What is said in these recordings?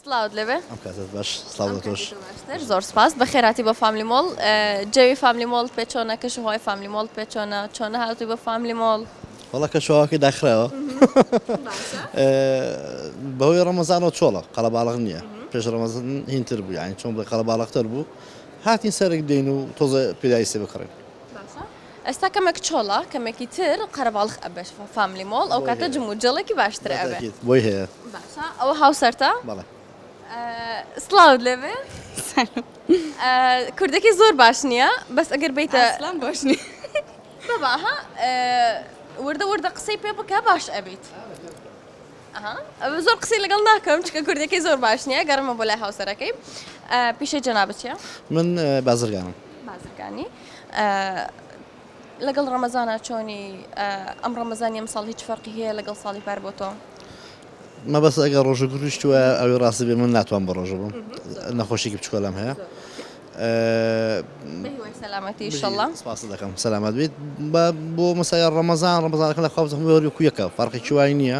سڵاوت لێ بێ. ئەم کاتەت باش سڵاو لە تۆش. ئەم کاتەی تۆ باشتر زۆر سوپاس. بەخێرهاتی بۆ فاملی مۆڵ. جەوی فاملی مۆڵت پێ چۆنە؟ کەش و هەوای فاملی مۆڵت پێ چۆنە؟ چۆن هاتووی بۆ فاملی مۆڵ؟ وەڵا کەش و هەواکەی داخراوە. باشە. بەهۆی ڕەمەزانەوە چۆڵە. قەڵەباڵغ نییە. پێش ڕەمەزان هین تر بوو. یانی چۆن بڵێ قەڵەباڵغ تر بوو. هاتین سەرک دێین و تۆزێ پیرایسێ بکڕین. باشە. ئێستا کەمێک چۆڵە کەمێکی تر قەرەباڵخ ئەبێت فاملی مۆڵ ئەو کاتە جم و جۆڵێکی باشتر ئەبێت. بەتاکید بۆی هەیە. باشە ئەوە هاوسەرتە؟ بەڵێ. سڵاوت لێ بێ. سلام. کوردەکەی زۆر باش نییە بەس ئەگەر بیتە. ئەسڵەن باش نییە. بابا ها وردە وردە قسەی پێ بکە باش ئەبیت. ئەها ئەوە زۆر قسەی لەگەڵ ناکەم چونکە کوردەکەی زۆر باش نییە گەڕێمە بۆ لای هاوسەرەکەی. پیشەی جەنابت چییە؟ من بازرگانم. بازرگانی؟ لەگەڵ ڕەمەزانا چۆنی ئەم ڕەمەزانی ئەمساڵ هیچ فەرقی هەیە لەگەڵ ساڵی پار بۆ تۆ؟ مەبەست ئەگە ڕۆژە گونیشت وە ئەوی ڕاستی بێ من ناتوان بە ڕۆژە بم نەخۆشیکی بچکۆلام هەیە سەلامەتی شڵە سپاس دەکەم سەلامەت بێت بۆ مەسای ڕەمەزان ڕەمەزانەکە لە خواز هەمووەری کویەکە فەرقی چوای نییە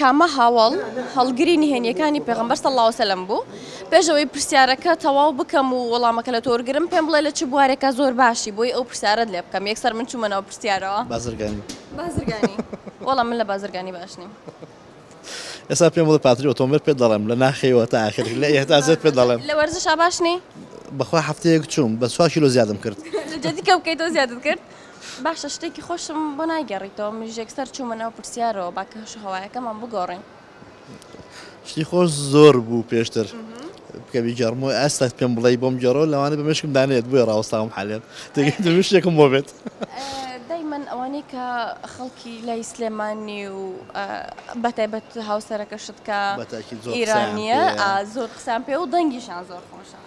کامە هاوەڵ هەڵگری نهێنیەکانی پێغمبەر صلی الله علیه وسلم بوو پێش ئەوەی پرسیارەکە تەواو بکەم و وەڵامەکە لە تۆ وەرگرم پێم بڵێ لە چ بوارێکا زۆر باشی بۆی ئەو پرسیارەت لێ بکەم یەکسەر من چوومە ناو پرسیارەوە بازرگانی بازرگانی وەڵا من لە بازرگانی باش نیم ئێستا پێم بڵێ پاتری ئۆتۆمبیل پێ دەڵێم لە ناخەوە تا ئاخر لە ئێهتازت پێ دەڵێم لە وەرزشا باش نی بەخوا هەفتەیەک چووم بە سوا کیلۆ زیادم کرد لە جەدی کەم کەی تۆ زیادت کرد باشە شتێکی خۆشم بۆ نایگێڕیتەوە منیش یەکسەر چوومە ناو پرسیارەوە با کەش و هەوایەکەمان بگۆڕین. شتی خۆش زۆر بوو پێشتر بکە بیگەڕمەوە ئەستا پێم بڵێی بۆم گێڕەوە لەوانەیە بە مێشکم دانێت بۆیە ڕاوەستاوم حالێن تێگەی دەبێت شتێکم بۆ بێت. دایمەن ئەوانەی کە خەڵکی لای سلێمانی و ئا بە تایبەت هاوسەرەکەشت کە بە تاکید زۆر قسەیان پێ ئیرانییە ئا زۆر قسەیان پێ و دەنگیشان زۆر خۆشە.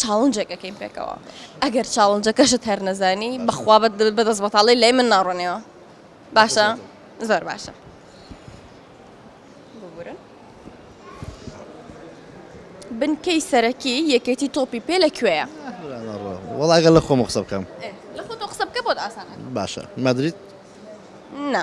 چاڵنجێک ئەکەین پێکەوە ئەگەر چاڵنجەکەشت هەر نەزانی بەخوا بەدەست بەتاڵی لای من ناڕۆنەوە باشە زۆر باشە بنکەی سەرەکی یەکێتی تۆپی پێ لە کوێیە وڵاگە لە خۆم قسە بکەم لە خۆ قسە بکە بۆت ئاسان باشە مەدریت نه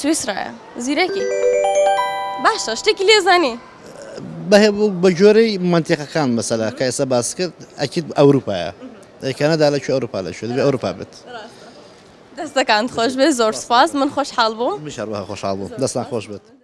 سویسرایە زیرەکی باشە شتێکی لێزانی بە جۆرەی منتیقەکان مەسەلا کە ئێستا باس کرد ئەکیت ئەوروپایە کەنەدا لە ئەوروپا لە شوێن ئەوروپا بێت دەستەکان خۆش بێ زۆر سپاس من خۆشحاڵ بووم خۆشحاڵ بوو دەستان خۆش بێت